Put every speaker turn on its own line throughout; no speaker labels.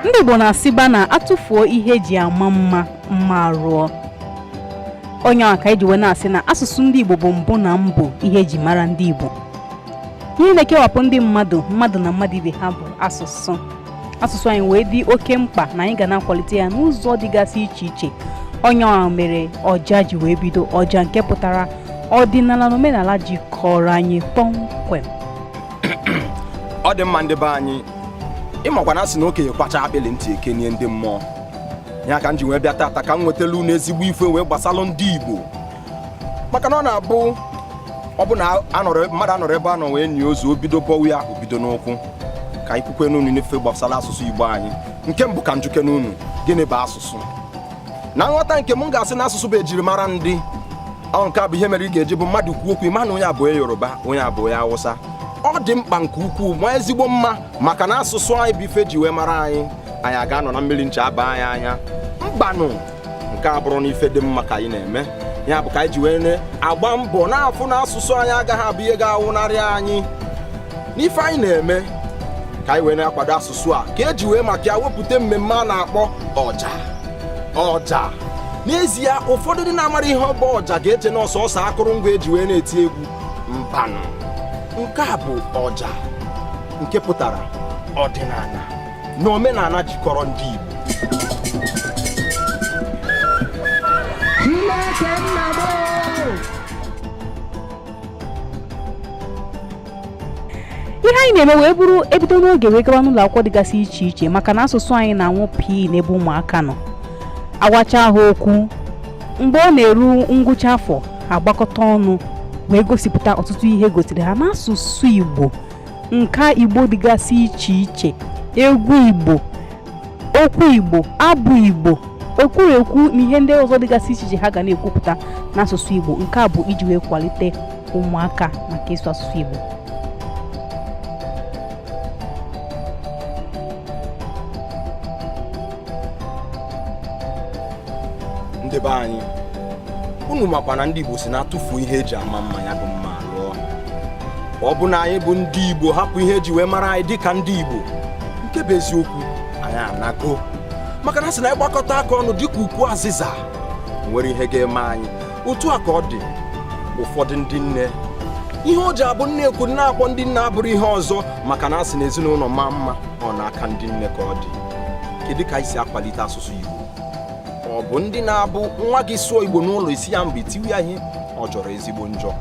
ndị Igbo na-asịba na atụfuo ihe eji ama mma mma arụọ ọ nya nwa ka eji wee na-asị na asụsụ ndị Igbo bụ mbụ na mbụ ihe eji mara ndị Igbo ihe na-ekewapụ ndị mmadụ mmadụ na mmadụ ibe ha bụ asụsụ asụsụ anyị wee dị oke mkpa na anyị ga na-akwalite ya n'ụzọ dịgasị iche iche ọ nya nwa mere ọja ji wee bido ọja nke pụtara ọdịnala na omenala jikọrọ anyị kpọmkwem
ọ dị mma ndị be anyị ịmakwa na asị na okenye kwacha akpịlị ntị ekenie ndị mmụọ ya ka m ji wee bịa tata ka m nwetalụ unu ezigbo ife wee gbasalụ ndị igbo maka na ọ na-abụ ọ bụ na mmadụ anọrọ ebe a nọ wee nie ozu obido bọwa ya obido n'ụkwụ ka anyị kwukwe n'unu n'ife gbasara asụsụ Igbo anyị nke mbụ ka m jụkenụ unu gịnị bụ asụsụ na nghọta nke m ga-asị na asụsụ bụ ejirimara ndị ọ nke a bụ ihe mere ị ga-eji bụ mmadụ kwuo okwu ị ma na onye a bụ onye yoruba onye a bụ onye awụsa ọ dị mkpa nke ukwuu ma ezigbo mma maka na asụsụ anyị bụ ife eji wee mara anyị anyị aga anọ na mmili ncha aba anyị anya mbanụ nke a bụrụ na ife dị mma ka anyị na-eme ya bụ ka anyị ji wee na-agba mbọ na-afụ na asụsụ anyị agaghị abụ ihe ga-anwụnarị anyị n'ife anyị na-eme ka anyị wee na-akwado asụsụ a ka eji wee maka ya wepụta mmemme a na-akpọ ọja ọja n'ezie ụfọdụ ndị na-amarọ ihe ọ bụ ọja ga-eche na ọ sọsọ akụrụngwa eji wee na-eti egwu mbanụ nke a bụ ọja nke pụtara ọdịnala na omenala jikọrọ ndị
Igbo ihe anyị na-eme wee bụrụ ebido n'oge wee gawa n'ụlọ akwụkwọ dịgasị iche iche maka na asụsụ anyị na-anwụ pii n'ebe ụmụaka nọ agwacha ha okwu mgbe ọ na-eru ngwụcha afọ agbakọta ọnụ wee gosipụta ọtụtụ ihe egosiri ha n'asụsụ Igbo nka Igbo dịgasị iche iche egwu Igbo okwu Igbo abụ Igbo ekwurekwu na ihe ndị ọzọ dịgasị iche iche ha ga na-ekwupụta n'asụsụ Igbo nke a bụ iji wee kwalite ụmụaka maka ịsụ asụsụ Igbo
ndị be anyị unu makwa na ndị Igbo sị na atụfuo ihe eji ama mma ya bụ mma alụọ ọ bụ na anyị bụ ndị Igbo hapụ ihe eji wee mara anyị dịka ndị Igbo nke bụ eziokwu anyị anago maka na asị na anyị gbakọta aka ọnụ dịka ukwu azịza nwerọ ihe ga-eme anyị otu a ka ọ dị ụfọdụ ndị nne ihe o ji abụ a na-ekwu a na-akpọ ndị nne abụrọ ihe ọzọ maka na asị na ezinụlọ maa mma ọ n'aka ndị nne ka ọ dị kedu ka anyị si akwalite asụsụ Igbo ọ bụ ndị na-abụ nwa gị sụọ igbo n'ụlọ ị sị ya mba i tiwe ya ihe ọ jọrọ ezigbo njọ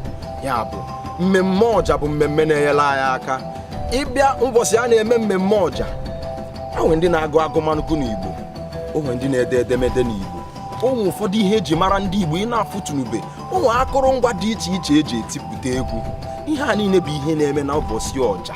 ya bụ mmemme ọja bụ mmemme na-enyere anyị aka ị bịa ụbọchị a na-eme mmemme ọja o nwee ndị na-agụ agụmagụ n'igbo o nwee ndị na-ede edemede n'igbo o nwee ụfọdụ ihe eji mara ndị igbo ị na-afụtụnube o nwee akụrụngwa dị iche iche eji etipụta egwu ihe a niile bụ ihe na-eme na ụbọchị ọja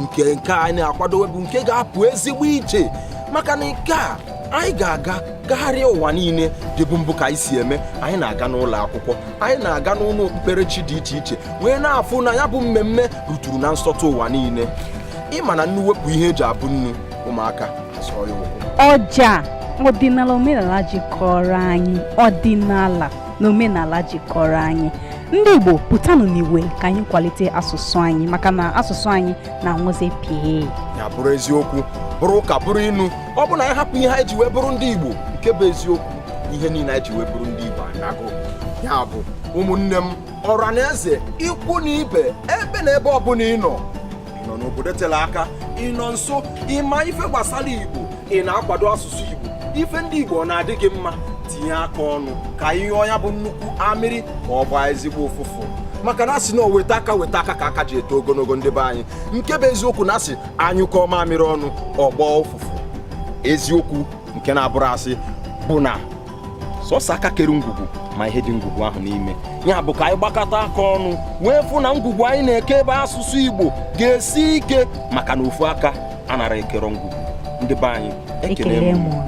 nke nke anyị na-akwadowe bụ nke ga-apụ ezigbo iche maka na nke a anyị ga-aga gagharịa ụwa niile dịbu mbụ ka anyị si eme anyị na-aga n'ụlọ akwụkwọ anyị na-aga n'ụlọ okpukperechi dị iche iche wee na-afụ na ya bụ mmemme ruturu na nsọtụ ụwa niile ị ma na nnu wepụ ihe eji abụ nnu ụmụaka azọọ ya ụkwụ
ọja ọdịnala omenala jikọrọ anyị ọdịnala na omenala jikọrọ anyị ndị Igbo pụtanụ n'igwe ka anyị kwalite asụsụ anyị maka na asụsụ anyị na-anwụzi pịị ya bụrụ eziokwu
bụrụ ụka bụrụ inu ọ bụ na anyị hapụ ihe anyị ji wee bụrụ ndị Igbo nke bụ eziokwu ihe niile anyị ji wee bụrụ ndị Igbo anago ya bụ ụmụnne m ọra na eze ikwu na ibe ebe na ebe ọbụla ị nọ ị nọ n'obodo tere aka ị nọ nso ị ma ife gbasara Igbo ị na-akwado asụsụ Igbo ife ndị Igbo ọ na-adị gị mma tinye aka ọnụ ka ị hụ na ya bụ nnukwu amịrị ma ọ gbaa ezigbo ụfụfụ maka na a sị na o weta aka weta aka ka aka ji eto ogologo ndị be anyị nke bụ eziokwu na a sị a nyụkọọ mamịrị ọnụ ọ gbọọ ụfụfụ eziokwu nke na-abụrọ asị bụ na sọsọ aka kere ngwugwu ma ihe dị ngwugwu ahụ n'ime ya bụ ka anyị gbakọta aka ọnụ wee fụ na ngwugwu anyị na-eke ebe asụsụ Igbo ga-esi ike maka na ofu aka anarọ ekere ngwugwu ndị be anyị ekele m